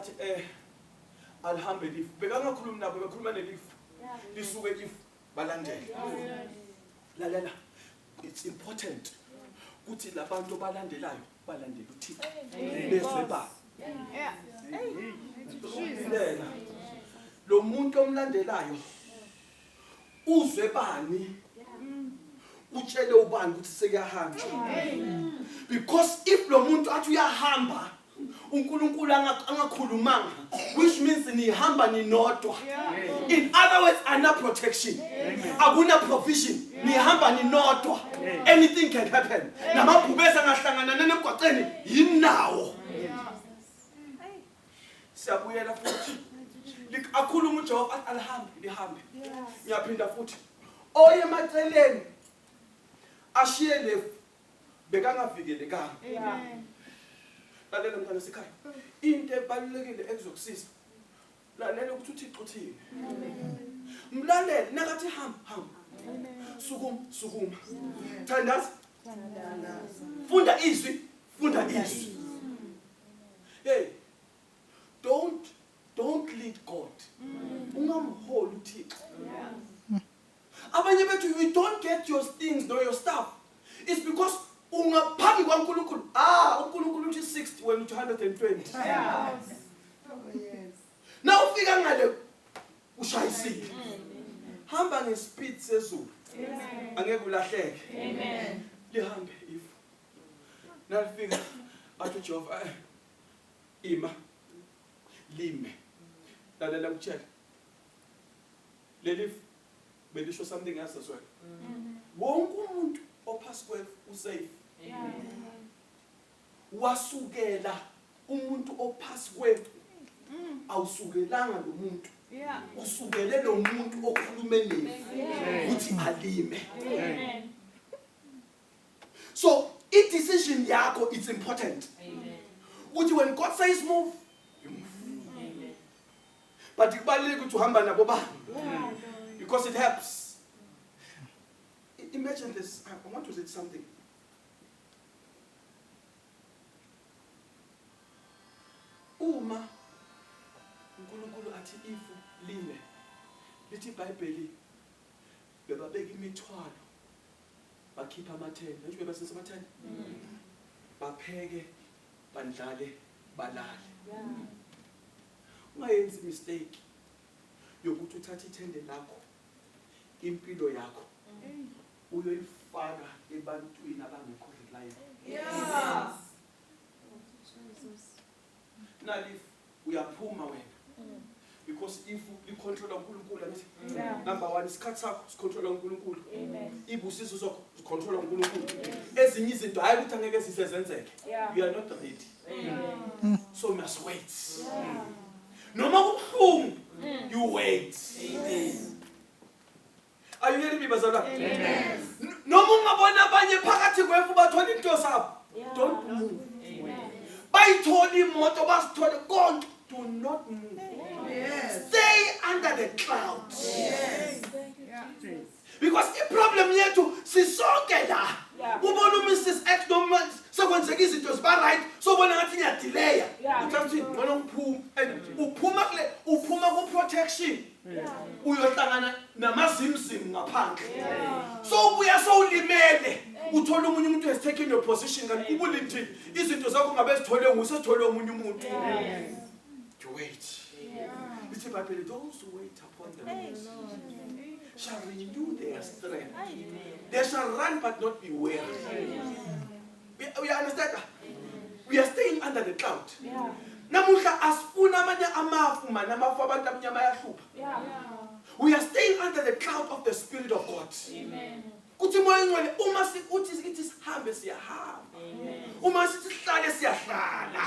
Athi eh alihambe lifu. Bekangakhulumi nabo bekhuluma nelifu. Lisuke ifu balandele. Lalela. It's important ukuthi labantu balandelayo balandela uThixo. Bezwe ba. Yeah. Hey. Lo muntu omlandelayo uzwe bani utshele ubani ukuthi sekuyahamba because if lo muntu athi uyahamba uNkulunkulu angakhulumanga which means nihamba ninodwa in other words ana protection akuna provision nihamba ninodwa anything can happen namabhubesi angahlangana nemgwaqeni yinawo siyabuyela futhi akhulume ujehova athi alihambe lihambe ngiyaphinda futhi oye emaceleni ashiye lefu bekangavikelekanga lalela mntana sekhaya into ebalulekile ekuzokusiza lalela ukuthi uthixo uthini mlalele nakathi hamba hamba sukuma sukuma thandaza funda izwi funda izwi Hey, don't don't lead God. Ungamholi uThixo. Abanye bethu you don't get your things no your stuff. It's because ungaphambi kwaNkulunkulu. Ah, uNkulunkulu uthi 60 wena uthi 120. Yes. Oh yes. Na ufika ngale ushayisile. Hamba ngespeed sezulu. Amen. Angeke ulahleke. Amen. Lihambe if nalifika athi ujehova eh, ima lime lalela kutshela leli belisho something else as well mm-hmm. wonke umuntu ophasi kwefu usafe wasukela umuntu ophasi kwefu mm. awusukelanga lo muntu usukele lo muntu okhulume nefu ukuthi alime So i decision yakho it's important. Amen. Ukuthi when God says move, you move. Amen. But kubalulekile ukuthi uhamba nabo ba. Because it helps. Imagine this. I want to say something. Uma uNkulunkulu athi ifu lime lithi iBhayibheli bebabeka imithwalo bakhiphe amathende ngisho bebasese amathende bapheke bandlale balale ungayenzi mistake yokuthi uthathe ithende lakho impilo yakho uyoyifaka ebantwini abangekho reliable yes Not if uyaphuma wena because if likhontrola uNkulunkulu angithi number 1 isikhathi sakho sikhontrola uNkulunkulu ibusiso sakho sikhontrola uNkulunkulu ezinye izinto hayi ukuthi angeke sisezenzeke you are not ready mm. so you must wait noma kubuhlungu mm. you wait Amen. Are you hearing me bazalwane? Amen. Noma ungabona abanye phakathi kwefu bathola into sabo. Don't move. Bayithola imoto basithole konke. Do not move. Yes. Stay under the cloud. Yes. Because iproblem yethu sisonke la. Ubona uMrs X noma sekwenzeka izinto ziba right sobona ngathi ngiyadelaya. Uthatha ukuthi ngcono ngiphuma and uphuma kule uphuma ku protection. uyohlangana namazimzimu ngaphandle so ubuya sowulimele uthola omunye umuntu has taken your position kanti ubulindile izinto zakho ngabe zithole nguye sethole omunye umuntu you wait lithi ibhayibheli those who wait upon the lord shall renew their strength they shall run but not be weary uya understand we are staying under the cloud yeah. namuhla asifuna amanye amafu mani amafu abantu amnyama ayahlupha yeah. we are staying under the cloud of the spirit of god Amen. kuthi moya ngcwele uma sikuthi sithi sihambe siyahamba uma sithi sihlale siyahlala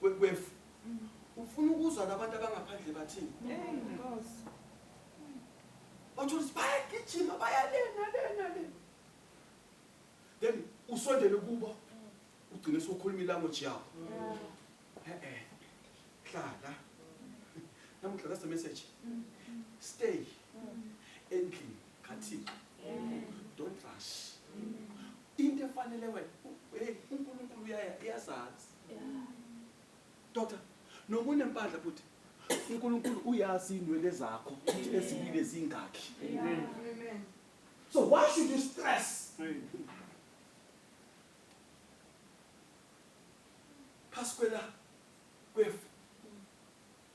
kwefu ufuna ukuzwa nabantu abangaphandle bathini bathola ukuthi bayagijima bayalena lena lena then usondele kubo ugcine sokhuluma ilanguage yakho e-e hlala namuhla that's the message stay endlini kathixo don't rush into efanele wena unkulunkulu uyazazi Doctor, noma unempandla bhuti. UNkulunkulu uyazi inwele zakho ukuthi eziwile zingakhi. Amen. So why should you stress? Phasi kwela kwefu.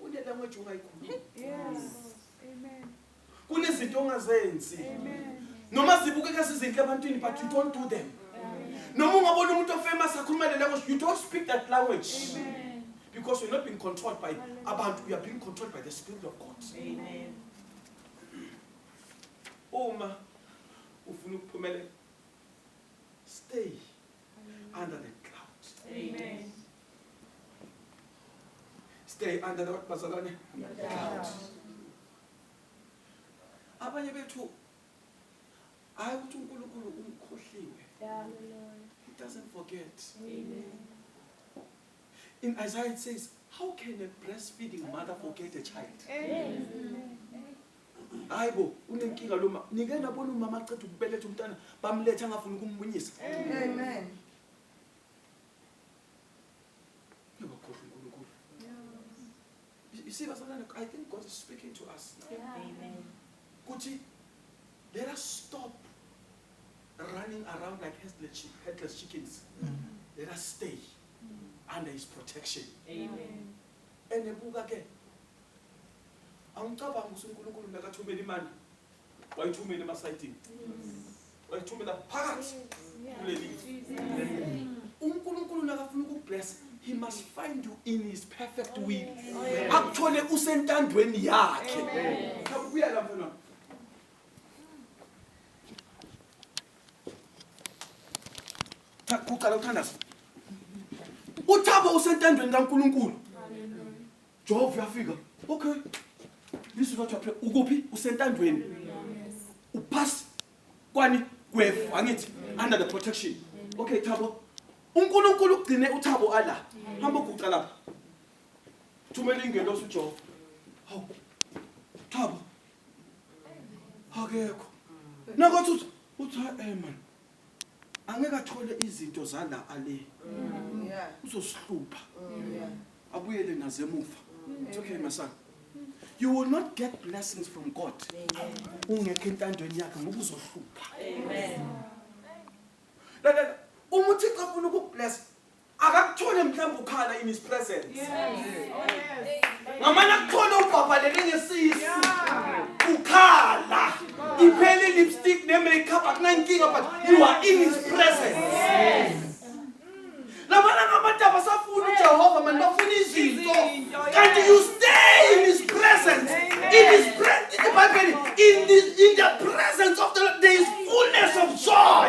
Kune language ongayikhulumi. Yes. Amen. Kunezinto ongazenzi. Amen. Noma zibukeka sizinhle ebantwini but you don't do them. Noma ungabona umuntu ofamous akhuluma le language you don't speak that language. Amen. Because you're not being controlled by abantu you are being controlled by the spirit of God. Amen. Uma ufuna ukuphumelela stay under the cloud amen stay under the bazalwane cloud abanye bethu hayi ukuthi uNkulunkulu umkhohliwe he doesn't forget amen in Isaiah it says how can a breastfeeding mother forget a child amen hayi bo unenkinga lo mama nike nabona umama aceda ukubeletha umntana bamletha angafuni ukummunyisa amen yabakhohlwa uNkulunkulu you see bazalwane i think god is speaking to us amen kuthi let us stop running around like headless, headless chickens mm -hmm. let us stay mm -hmm. under his protection amen and ebuka ke Angicabangi ukuthi uNkulunkulu nakathumela imali wayithumela emasayidini wayithumela phakathi kuleli uNkulunkulu nakafuna ukukublessa he must find you in his perfect will akuthole usentandweni yakhe nakubuya lapho na kuqala uthandaza uthabo usentandweni kaNkulunkulu Jehova uyafika. Okay. This is what you pray. Ukuphi? Usentandweni. Uphasi kwani kwefu angithi under the protection. Okay Thabo. uNkulunkulu ugcine uThabo ala. Hamba uguqa lapha. Thumela ingelosi uJehova. Hawu. Thabo. Akekho. Nakothi uthi uthi eh man. Angeke athole izinto zala ale. Uzosihlupha. Abuyele nazo emuva. It's okay my son. You will not get blessings from God. Ungekho entandweni yakhe ngoba uzohlupha. Amen. Lalela, uma uThixo afuna ukukubless, akakuthole mhlawumbe ukhala in his presence ngamane akuthole ubhabhalele ngesisu ukhala iphele lipstick ne-makeup akunankinga but you are in his presence labana ngabantu abasafuni ujehova mani bafuna izinto kanti you stay in his presence in his presence the bible in the, in the presence of the Lord, there is fullness of joy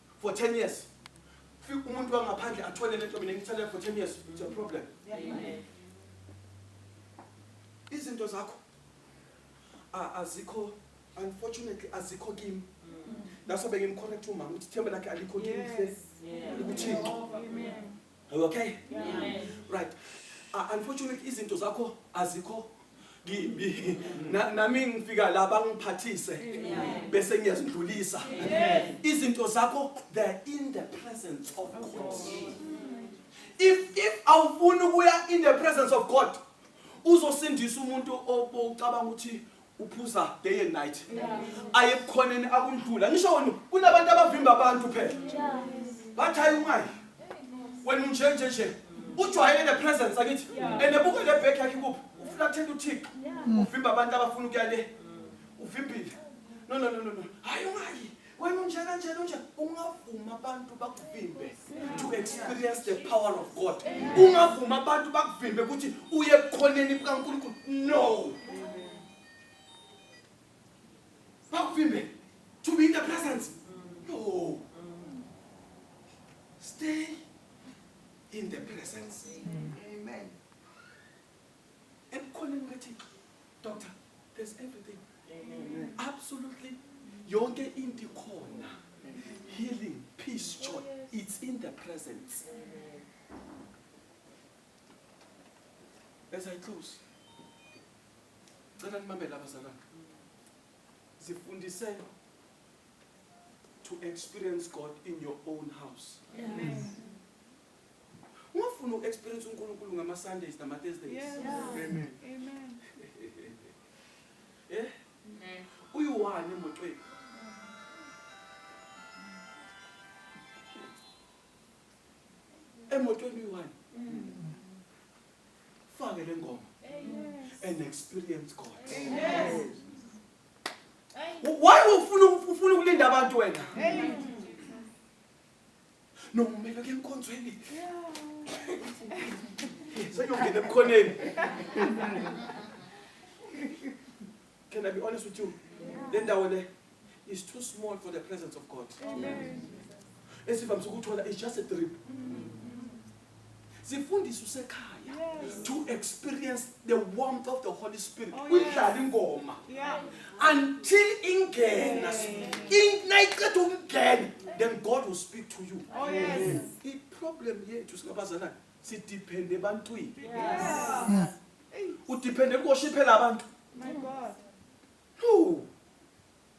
for 10 years fika umuntu wangaphandle athole lento mina ngithalela for 10 years it's a problem izinto zakho azikho unfortunately azikho kimi naso bengimcorrect umama ukuthi ithemba lakhe alikho kimi ukuthi Are you okay? Yeah. Right. Uh, unfortunately izinto zakho azikho kimi. Na- Nami ngifika la bangiphathise bese ngiyazidlulisa. Izinto zakho they're in the presence of God. If if awufuni ukuya in the presence of God uzosindisa umuntu obocabanga ukuthi uphuza day and night aye ebukhoneni akumdula ngisho wena kunabantu abavimba abantu phela bathi hayi ungayi wena unje nje nje ujwayele the presence akithi and ebuka le bag yakhe kuphi uflathela uthixo uvimba abantu abafuna ukuya le uvimbile no no no no no hayi ungayi Wena unjena nje nje ungavuma abantu bakuvimbe to experience the power of God. Ungavuma abantu bakuvimbe ukuthi uye ebukhoneni bukaNkulunkulu. No. Bakuvimbe to be in the presence. No. Stay in the presence. Amen. ebukhoneni bukathixo doctor there's everything absolutely yonke into ikhona healing peace joy it's in the presence as i close cela nimamele abazalwana zifundise to experience god in your own house Amen. Ungafuna uku-experience uNkulunkulu ngama-Sundays nama-Thursdays. Yes. Amen. Amen. Eh? Amen. Uyiwani emotweni? Emotweni uyiwani? Fake le ngoma and experience God. Yes. Why ufuna ufuna ukulinda abantu wena? Amen. No, mina ke enkonzweni. Sengiyongena ebukhoneni. Can I be honest with you? Le ndawo le is too small for the presence of God. Amen. Esivamise ukuthola is just a drip. zifundise usekhaya to experience the warmth of the holy spirit oh, uyidlala ingoma until ingena nayiqeda ukungena then god will speak to you oh, iproblem yethu singabazalana sidiphende ebantwini udiphende kuwoshiphela abantu no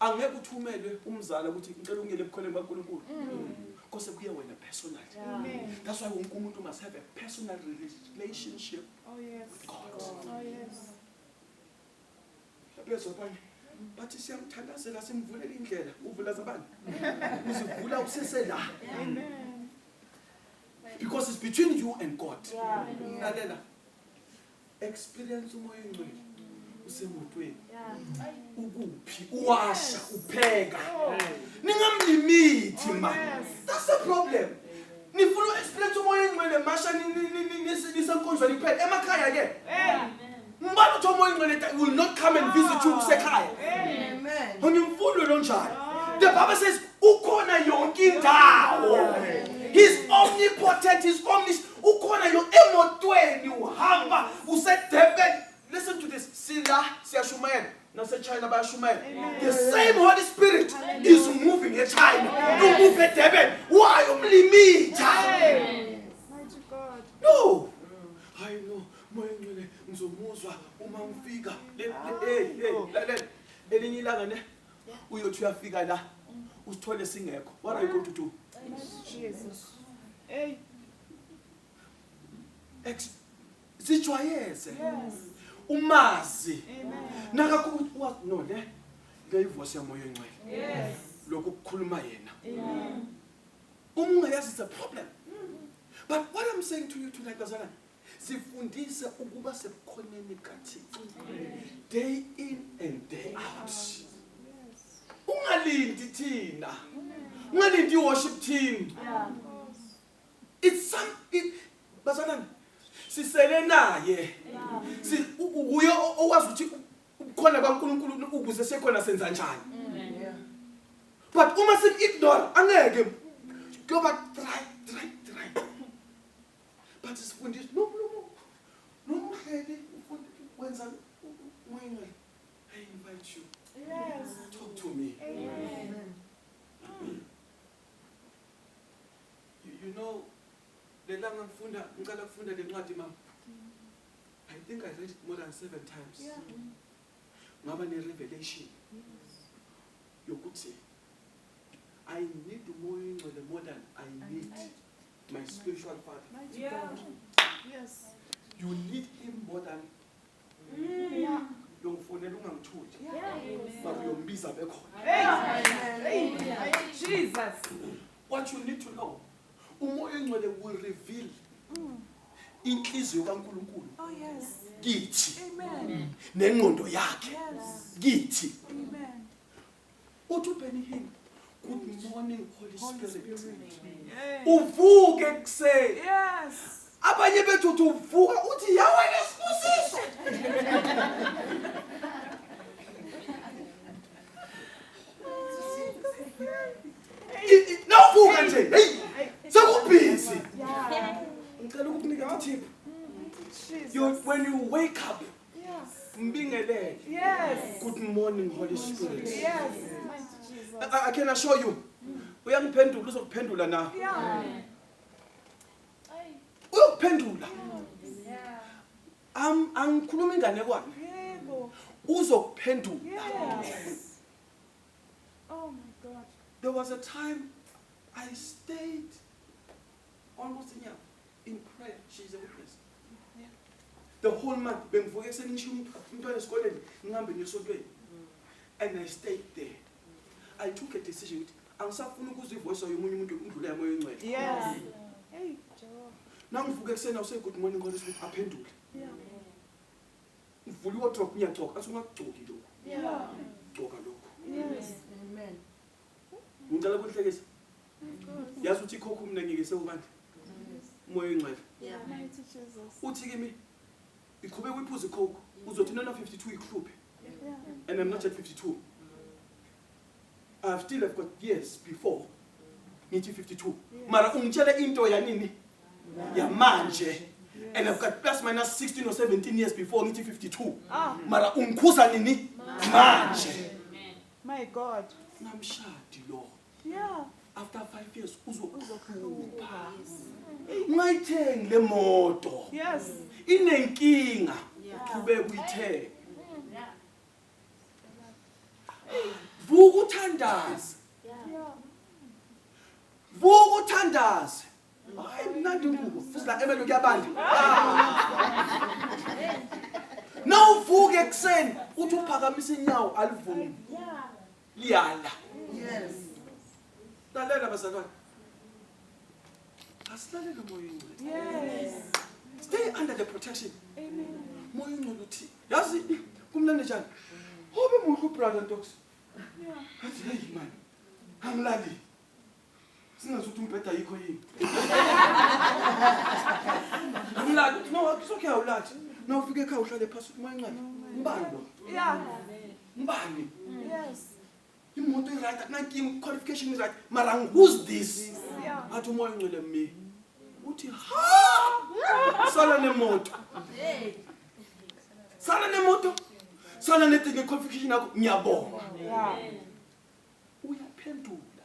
Angeke uthumelwe umzala ukuthi ngicela ungene ebukholweni bukaNkulunkulu. Kose kuye wena personally. That's why wonke umuntu must have a personal relationship oh, with God. Oh, Laphezo abanye bathi siyamthandazela simvulela indlela. Uvula zabani? Uzivula usese la. Because it's between you and God. Lalela. experience umoya ongcwele usemotweni ukuphi uwasha upheka ningamlimithi ma that's the problem nifuna uexperience umoya engcwele masha nisenkonzweni kuphela emakhaya ke ngibani uthi umoya engcwele will not come and visit you kusekhaya unimfundo lonjalo the bible says ukhona yonke indawo he's omnipotent he's omnis ukhona yo emotweni uhamba usedurban listen to this sila siyashumayela nasechina bayashumayela the same holy spirit is moving echina umove edurban why umlimitha no hayi no moya ngcwele ngizomuzwa uma ngifika elinye ilanga ne uyothi uyafika la usithole singekho what are you going to do jesus hey ex sijwayeze umazi nakakho no le le ivoice yamoya encwele yes lokho kukhuluma yena amen uma ungayazi it's a problem but what i'm saying to you tonight bazalwane sifundise ukuba sebukhoneni bukathixo day in and day out ungalindi thina ungalindi i-worship team it's some it, bazalwane sisele naye uye owazi ukuthi ubukhona bankulunkulu ukuze sekhona senza njani but uma sim-ignore angeke kuyoba try But sifundisi no no no. Nomhleli ufundi wenza umngcele. I invite you. Yes. Talk to me. Amen. You, you know lelanga ngifunda ngicela kufunda lencwadi mama. I think I read it more than seven times. Yeah. ngaba ne-revelation yokuthi I need umoya oyingcwele more than I need my spiritual father. Yeah. Yes. You need him more than mm. yeah. yongifonela ungamthuli but uyombiza bekhona Jesus what you need to know Umoya ongcwele will reveal inhliziyo kaNkuluNkulu Oh yes. kithi Amen. nengqondo yakhe Yes. kithi. Amen. Uthi uBenny Hinn, good morning Holy Holy Spirit. Spirit. Yay. Uvuke ekuseni Yes. abanye bethu uthi uvuka uthi yawe nesibusiso nawuvuka nje heyi sekubhizi ngicela ukukunika ithiphu when you wake up mbingelele good morning holy spirit yes. I, I can assure you uyangiphendula uzokuphendula na yeah. uyokuphendula am angikhuluma inganekwane uzokuphendula oh my god there was a time i stayed almost a year in prayer she's a witness the whole month bengivuke ekuseni ngisho umntwana esikoleni ngihambe ngiyosontweni and i stayed there i took a decision ukuthi Angisafuni ukuzwa ivoice yomunye umuntu ukudlula yamoya ongcwele. Yes. Hey, Jehova. Nangivuke ekuseni awuse good morning Holy Spirit aphendule. Yeah. Ngivula iwardrobe ngiyagcoka athi ungakugcoki lokho. Yeah. Gcoka lokho. Yes. Amen. Ngicela ukuhlekisa. Yazi uthi ikhokho mina ngeke sewubandla. Umoya ongcwele. Yeah. Mighty Jesus. Uthi kimi iqhubeka uyiphuza ikhokho uzothi nona 52 ikhuphe. Yeah. And I'm not at 52. I have still have got years before ngithi 52 mara ungitshele into yanini yamanje and I've got plus minus 16 or 17 years before ngithi 52 ah. mara ungikhuza nini manje my god namshadi lo yeah after 5 years uzokhupha ungayithengi le moto yes inenkinga uqhubeka uyithenga vuka uthandaze vuka uthandaze hayi mnandi ingubo futhi la emelo kuyabanda nawuvuka ekuseni uthi uphakamisa inyawo alivumi liyala yes lalela bazalwane asilalele moya ingcwele yes stay under the protection moya ingcwele uthini yazi kumnandi njani ube muhle ubrother ntox athi heyi mani angilalile singazi ukuthi umbheda yikho yini angilali uthi no soke awulali na ufike ekhaya uhlale phasi uthi manxele mbani lo mbani yes imoto iright akunankinga uqualification iright mara who's this athi umoya ongcwele mi uthi ha sala nemoto sala nemoto sala netinye qualification yakho ngiyabonga uyaphendula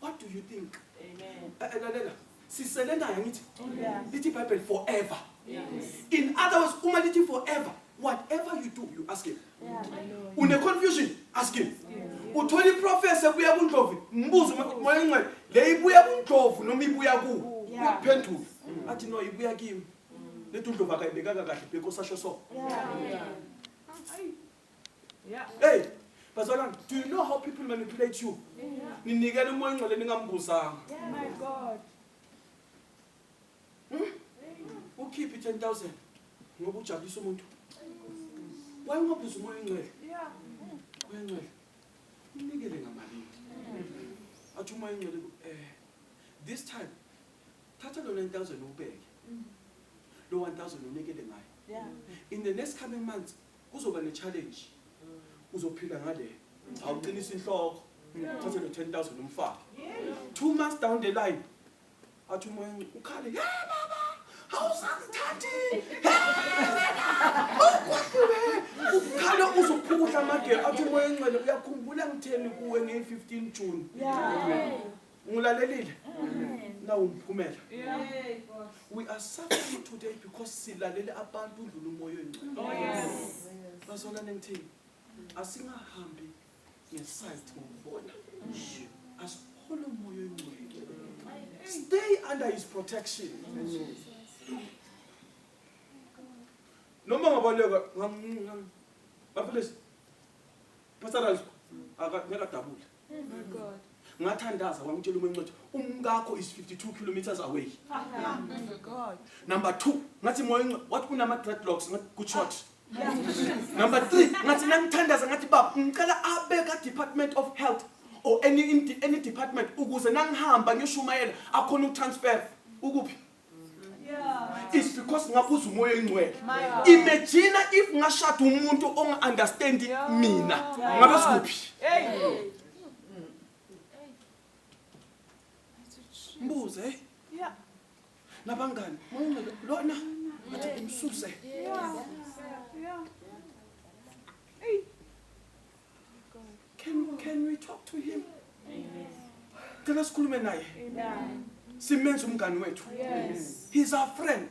What do you think? Amen. Eh, eh, lalela. Sisele naye ngithi. Oh, lithi Bible forever. Yes. In other words, uma lithi forever, whatever you do, you ask him. Yeah. Une confusion, ask him. Uthola iprofessor ebuya kuNdlovu, mbuzo moya ingcwele, le ibuya kuNdlovu noma ibuya ku? Uyaphendula. Athi no ibuya kimi. Lethi uNdlovu akayibekanga kahle bhekho sasho so. Yeah. Yeah. Hey, bazalwane, do you know how people manipulate you? Ninikela umoya ongcwele ningambuzanga. Yeah, my God. Hmm? Ukhiphi 10000 ngoba ujabulisa umuntu. Why ungabuza umoya ongcwele? Yeah. Umoya ongcwele. Ninikele ngamalini. Athi umoya ongcwele eh this time thatha lo 9000 ubeke. Lo 1000 unikele ngayo. Yeah. In the next coming months Kuzoba ne challenge. Uzophila ngale. Awuqinisa inhloko. Thathe lo 10000 umfake. Two months down the line. Athi umoya ukhale. Hey baba, awusangithandi. Awukwahlule. Ukhala uzokhukuhla amagela athi umoya engcwele uyakhumbula ngitheni kuwe nge 15 June. Yeah. Ngilalelile. Nawu umphumela. We are suffering today because silalele abantu udlula umoya oyingcwele. Oh, yes. Bazona nengithini. Asingahambi ngeside ngokubona. Asihole umoya oyingcwele. Stay under his protection. Noma ngabaleka ngam bafundisi. Pastor Razo akadabula. ngathandaza wangitshela umancothi umkakho is 52 kilometers away number two ngathi moya oncothi wathi unama-dreadlocks ngathi good shot number three ngathi nangithandaza ngathi baba ngicela abe ka-department of health or any, any department ukuze nangihamba ngishumayela akhona ukutransfer ukuphi it's because ngabuza umoya oyingcwele imagine if ngashada umuntu onga-understandi mina ngabe sikuphi mbuze eh? nabangani mawungcwele lona athi umsuse Can, can we talk to him? Cela sikhulume naye. Simenza umngani wethu. Yes. He's our friend.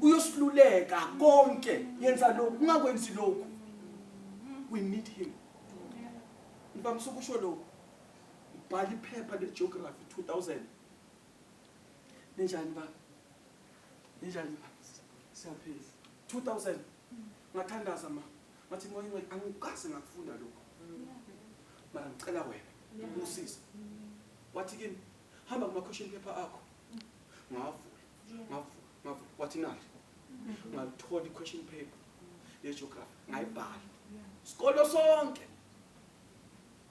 Uyosiluleka konke. Yenza lokhu, ungakwenzi lokhu. We need him. Ngibamsa ukusho lokhu. Bhala iphepha leGeography 2000. Ninjani ba? Ninjani ba? Siyaphila. 2000 ngathandaza ma ngathi moya ingcwele angikaze ngakufunda lokho mara ngicela wena ungisize wathi kimi hamba kuma-question paper akho ngavula ngavula ngavula wathi nali ngalithola i-question paper yegeography ngayibhala sikolo sonke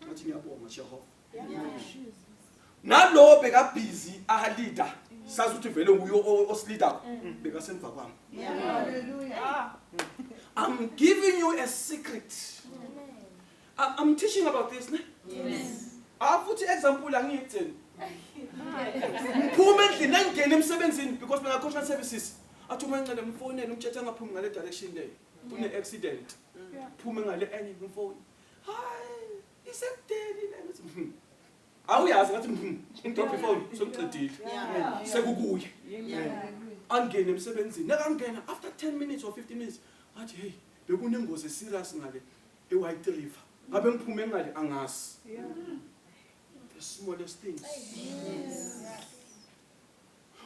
ngathi ngiyabonga jehova nalowo bekabhizi ahalida sazi ukuthi vele nguye osilidako mm. bekasemva kwami i'm giving you a secret i'm teaching about this ne afuthi ah, example angiyitheni ngiphume endlini angingeni emsebenzini because bengakhosha services athi uma ncele mfonele umtshethe angaphumi ngale direction leyo kune accident phume ngale enye ngimfoni hayi Isekudeni lena ukuthi mhm. Awuyazi ngathi mhm. Drop ifone sokuqedile. Yeah. Sekukuye. Angene emsebenzini. Nakangena after 10 minutes or 15 minutes athi hey bekunengozi serious ngale eWhite River. Ngabe ngiphume ngale angazi. The smallest things.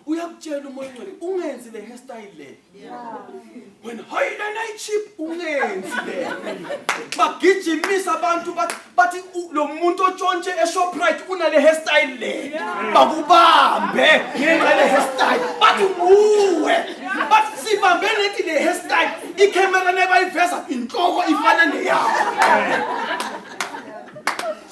uyakutshela umoya ongcwele ungenzi le hairstyle le wena hayi lena ichip ungenzi le bagijimisa abantu bathi bathi u- lo muntu otshontshe eshoprite unale hairstyle le bakubambe ngenxa le hairstyle bathi nguwe bathi sibambe nethi le hairstyle ikhamera nebayiveza inhloko ifana neyakho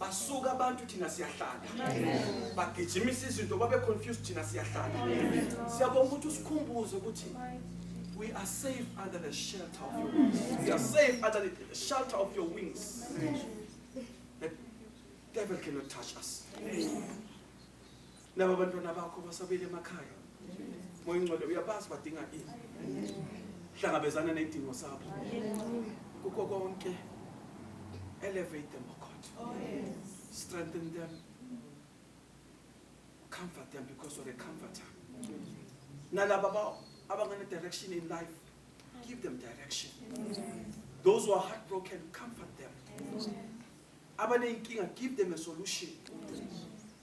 basuka abantu thina siyahlala bagijimisa izinto babe confused thina siyahlala siyabonga ukuthi usikhumbuze ukuthi we are safe under the shelter of your wings we are safe under the shelter of your wings the devil cannot touch us Laba abantwana bakho basabile emakhaya. Moya ingcwele uyabazi badinga ini. Hlangabezana nezidingo sabo. Kukho konke elevate them oh God. Oh, Strengthen them. Comfort them because you're a comforter. Nalaba ba- abangane direction in life, give them direction. Those who are heartbroken, comfort them. Abaneyinkinga, give them a solution.